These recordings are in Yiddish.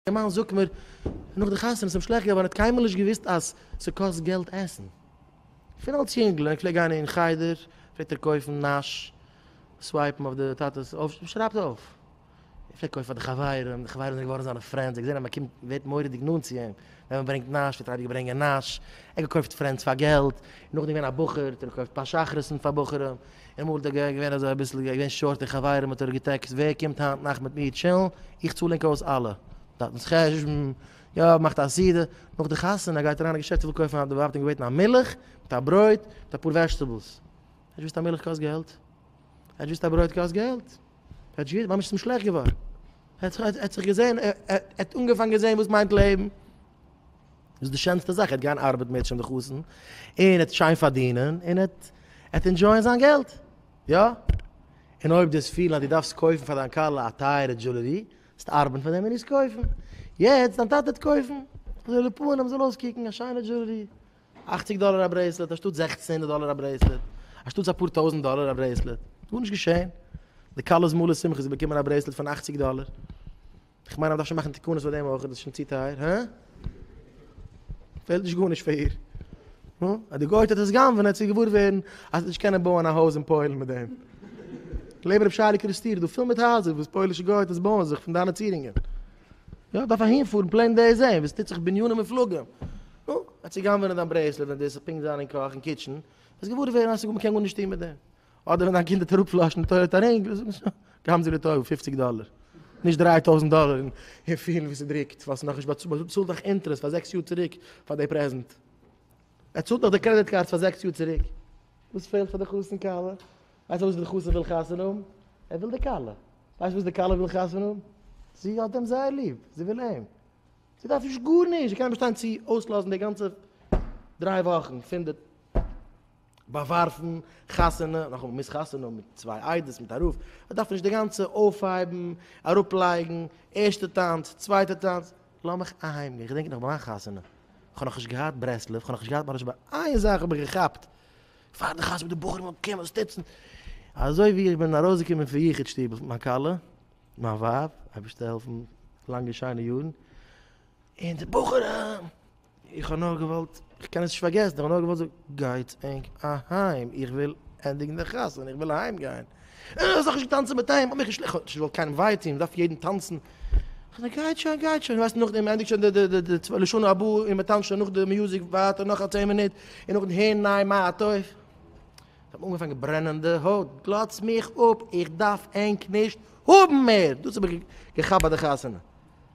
דער מאן זאגט מיר נאך די חתונה ס'איז אים שלעכט געווארן ער האט קיינמאל נישט געוואוסט אז ס'קאסט געלט עסן. פון אלס יונגל ווען איך פלעג גיין אין חדר פלעגט ער קויפן נאש, סווייפן אויף די טאטע'ס אויף שרייבט אויף. ער פלעגט קויפן פאר די חברים, די חברים זענען געווארן זיינע פרענדס, ער האט געזען אז מ'קומט מ'ווערט מורא'דיג נאנט צו אים ווען מ'ברענגט נאש פלעגט ער אייביג ברענגען נאש, ער האט געקויפט פרענדס פאר געלט, נאכדעם געווען א בחור האט ער געקויפט פאר שחרית'ן פאר בחורים, אמאל איז דער געגענט געווען אזוי אביסל געווען שארט און חברים האט ער געטעקסט ווער קומט היינט נאכט מיט מיר טשילן, איך צאל ענק אויס אלע טאטנס חשבון, יא מאכט א סדר, נאך די חתונה גייט אריין אין געשעפט איך וויל קויפן א, די ווייב האט אים געבעטן א מילך מיט א ברויט מיט אפאר וועזשטעבלס, ער האט געוויסט א מילך קאסט געלט? ער האט געוויסט א ברויט קאסט געלט? ער האט געוויסט, ממש ס'איז אים שלעכט געווארן, ער האט זיך געזען, ער האט אנגעפאנגען זען וואס מיינט לעבן, דאס איז די שענסטע זאך, ער האט געהאן ארבעט מער צ'ן די חתן, און ער האט שיין פארדינען, און ער האט האט אינדזשויען זיין געלט. יא? און אויב דו האסט פילן אז דו דארפסט קויפן פאר דיין כלה א טייערע דזשולערי, זאלסטו ארבעטן פאר דעם און עס קויפן. יעצט, דיין טאטע וועט קויפן, אזוי ווי די פנים זאל אויסקוקן, א שיינע דזשולערי. אכציג דאלער א ברעיסלעט, אנשטאט זעכצן הונדערט דאלער א ברעיסלעט. אנשטאטס אפאר טויזנט דאלער א ברעיסלעט. גארנישט געשען. די כלה'ס מלא שמחה, זי באקומען א ברעיסלעט פון אכציג דאלער. איך מיין אז מ'דארף שוין מאכן תקנות פאר דעם אויך, איז דאס שוין צו טייער? הא? פעלט נישט גארנישט פאר איר? נו, אז די גויטע האט עס גנב'נעט צו געוואר ווערן אז מ'וועט נישט קענען בויען א הויז אין פוילן מיט דעם. לעבן רבי שיילי קריסטיר, דא פול מיט הייזער וואס פוילישע גויטעס בויען זיך פון דיינע צירונגען. יא, דארף אהינפארן פלעין דאס זעהן וואס טוט זיך בנינים מופלגים. נו, אז צו גנב'נען דיין ברעיסלעט ווען דאס וועט פונקט זיין אין קאך און קיטשען, וועסט געוואר ווערן אז מ'קען גארנישט טון מיט דעם. אדער ווען דיין קינד האט אראפפלאשן די טוילעט ארינגל זאגן שוין געבן זיי די טויל פֿופֿציק דאלער נישט דרײַ טויזנט דאלער און פילן ווי ס'דריקט ווייל ס'איז נאך נישט באצאלט, באצאלט דאך אינטערעסט פאר זעקס יאר צוריק פאר די פרעזענט, ער צאלט דאך די קרעדיט קארדס פאר זעקס יאר צוריק, וואס פעלט פאר די חתן כלה? ווייסט איר וואס די חתן וויל חתונה האבן? ער וויל די כלה, ווייסט וואס די כלה וויל חתונה האבן? זי האט אים זייער ליב, זי וויל אים, זי דארף נישט גארנישט, זי קען נישט באשטיין צו אויסלאזן די גאנצע דריי וואכן פון די באווארפן, חתונה, נאכאמאל מ'מוז חתונה האבן מיט צוויי איידעס מיט א רב, מ'דארף נישט די גאנצע אויפהייבן, אראפלייגן, ערשטע טאנץ, צווייטע טאנץ, לאמיך אהיימגיין, איך געדענק נאך ביי מיין חתונה, כ'האב נאכנישט געהאט ברסלב, כ'האב נאכנישט געהאט מרש ב, איין זאך האב איך געכאפט, פאר די חתונה די בחורים זאלן קומען שטיצן, אזוי ווי איך בין ארויסגעקומען פון יחוד שטוב מיט מיין כלה, מיין ווייב, אייבערשטער העלפן לאנגע שיינע יארן, און די בחורים, איך האב נאר געוואלט, איך קען עס נישט פארגעסן, איך האב נאר געוואלט זאגן, גייטס ענק אהיים, איך וויל ענדיגן די חתונה, איך וויל אהיים גיין. אה, זאך נישט געטאנצן מיט אים, האב מיך נישט, איך האב נישט געוואלט קיינעם וויי טוהן, מ'דארף יעדן טאנצן. כ'זאג, גייט שוין, גייט שוין, ווייסט נאכדעם מ'ענדיגט שוין די די די די לשנה הבאה און מ'טאנצט שוין נאך די מיוזיק ווייטער נאך א צען מינוט, און נאכדעם הערן ניי מה הטוב. כ'האב אנגעפאנגען ברענען די הויט, גלאץ מיך אפ, איך דארף ענק נישט האבן מער, דאס האב איך געכאפט ביי די חתונה.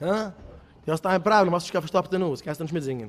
הא? דו האסט איין פראבלעם, האסט נישט קיין פארשטאפטע נאז, קענסט נישט מיטזינגען.